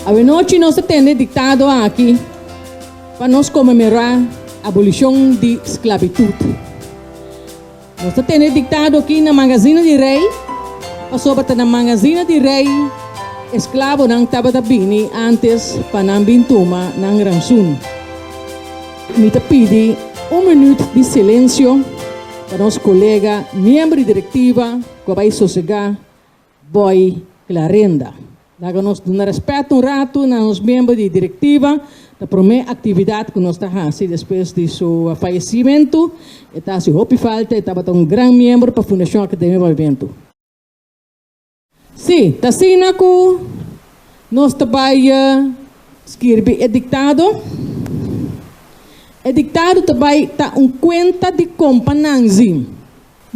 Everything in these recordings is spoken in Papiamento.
Awenochi nos ta tende diktado aki pa nos komemorá abolishon di sklabitut. Nos ta tende diktado aki na Magazina di Rei, pasobra ta na Magazina di Rei e sklabonan tabata bini antes pa nan bin tuma nan ransun. Mi ta pidi un minuut di silensio pa nos kolega miembro di direktiva ku a bai sosegá bòi Klarenda. Laga nos duna rèspèt un ratu na nos miembro di direktiva, ta promé aktividat ku nos ta hasi despues di su fayesimentu. E ta hasi hopi falta, e tabata un gran miembro pa Fundashon Akademia Movementu. Sí, ta asina ku nos ta bai skirbi e diktado. E diktado ta bai ta un kuenta di kompa Nanzi.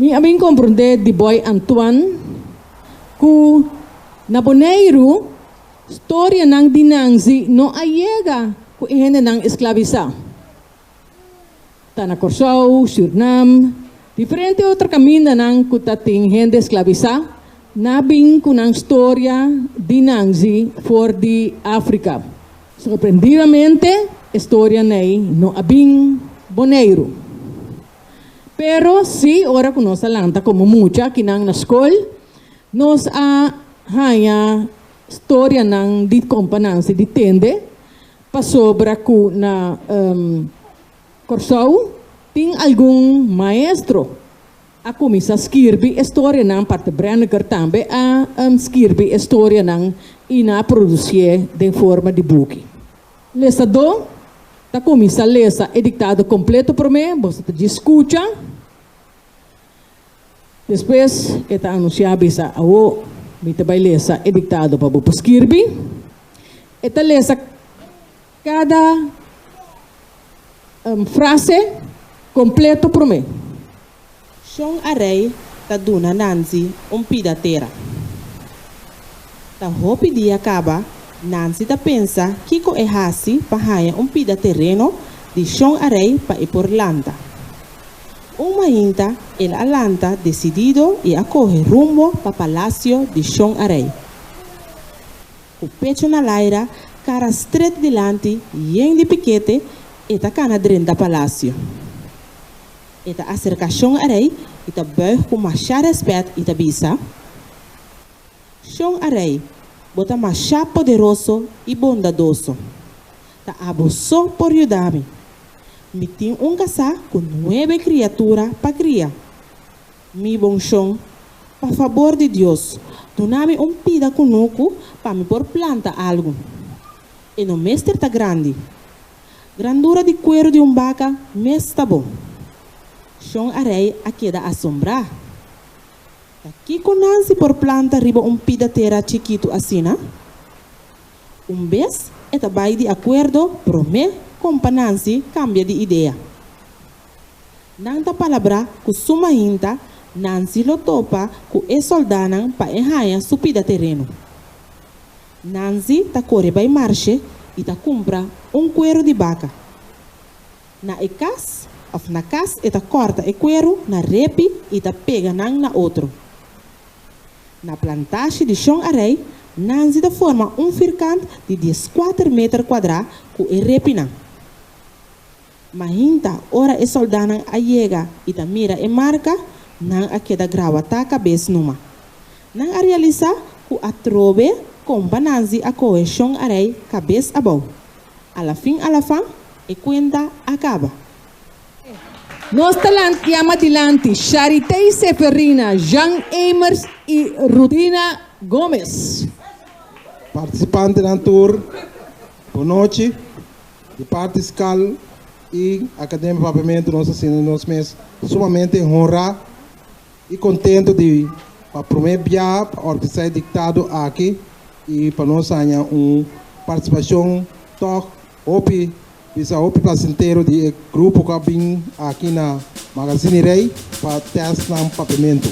Mi a bin komprondé di bòi Antoine ku na Boneiru storianan di Nanzi no a yega ku e hendenan esklabisá. Ta na Kòrsou, Sürnam, diferente otro kamindanan ku ta tin hende esklabisá, nan a bin ku nan storia di nanzi for di Afrika. Sorprendidamente e storian'ei no a bin Boneiru. Pero sí, ora ku nos a lanta komo mucha kinan na skol, nos a haña storianan di kompanansi di tende Pasobra ku na Kòrsou tin algun maestro a kuminsá skirbi e storianan, Parth Brennecke tambe a skirbi e storianan i nan a produsié den forma di buki. Lesadó ta kuminsá lesa e diktado kompleto promé, boso ta djis skucha. Despues e ta anunsiá, bisa, Awo mi ta bai lesa e diktado pa bo por skirbi. E ta lesa kada frase kompleto promé. Shon a rei ta duna Nancy un pida tera. Ta hopi dia kaba, Nancy ta pensa kiko e hasi pa haña un pida tereno di Shon a rei pa e por lanta. Un mainta el a lanta decidido y a coge rumbo pa palacio di Shon Arey. Cu pecho na laira, cara stret dilanti, yen di piquete, e ta cana drenta palacio. E ta acerca Shon Arey y ta buig cu masha respet y ta bisa, Shon Arey, bo ta masha poderoso y bondadoso. Ta abo so por yuda mi. Mi tin un kasá ku nuebe kriatura pa kria. Mi bonshon, pa fabor di Dios, duna mi un pida kunuku pa mi por planta algu. E no mester ta grandi. Grandura di kueru di un baka mes ta bon. Shon a rei a keda asombrá. Ta kiko Nancy por planta riba un pida tera chikitu asina? Un bes e ta bai di akuerdo, promé kompa Nancy kambia di idea. Nan ta palabrá ku suma hinta, Nancy lo topa ku e sòldánan pa e haña su pida tereno. Nancy ta kore bai marshe i ta kumpra un kueru di baka. Na e kas òf na kas e ta kòrta e kueru na repi i ta pega nan na otro. Na plantashi di Shon Arey, Nancy ta forma un firkant di dieskuater meter kuadrá ku e repinan. Mahinta ora e sòldánan a yega i ta mira e marka, nan a keda grawatá kabes numa. Nan a realisá ku atrobe kompa Nancy a kohe Shon Arey kabes abou. Alafin alafan, e kuenta a kaba. Nos ta lantia madilanti Charitey Seferina, Jean Eymers y Rudina Gomez. Participantenan tur bon nochi. Di parti Scal y Academia Papiamento nos ta sinti nos mes sumamente honra y contento di pa prome bia pa organisa e dictado aki y pa nos haña un participacion tok. Hopi, bisa hopi plasentero di e grupo ku a bin aki na Magazini Rei pa tèst nan papimentu.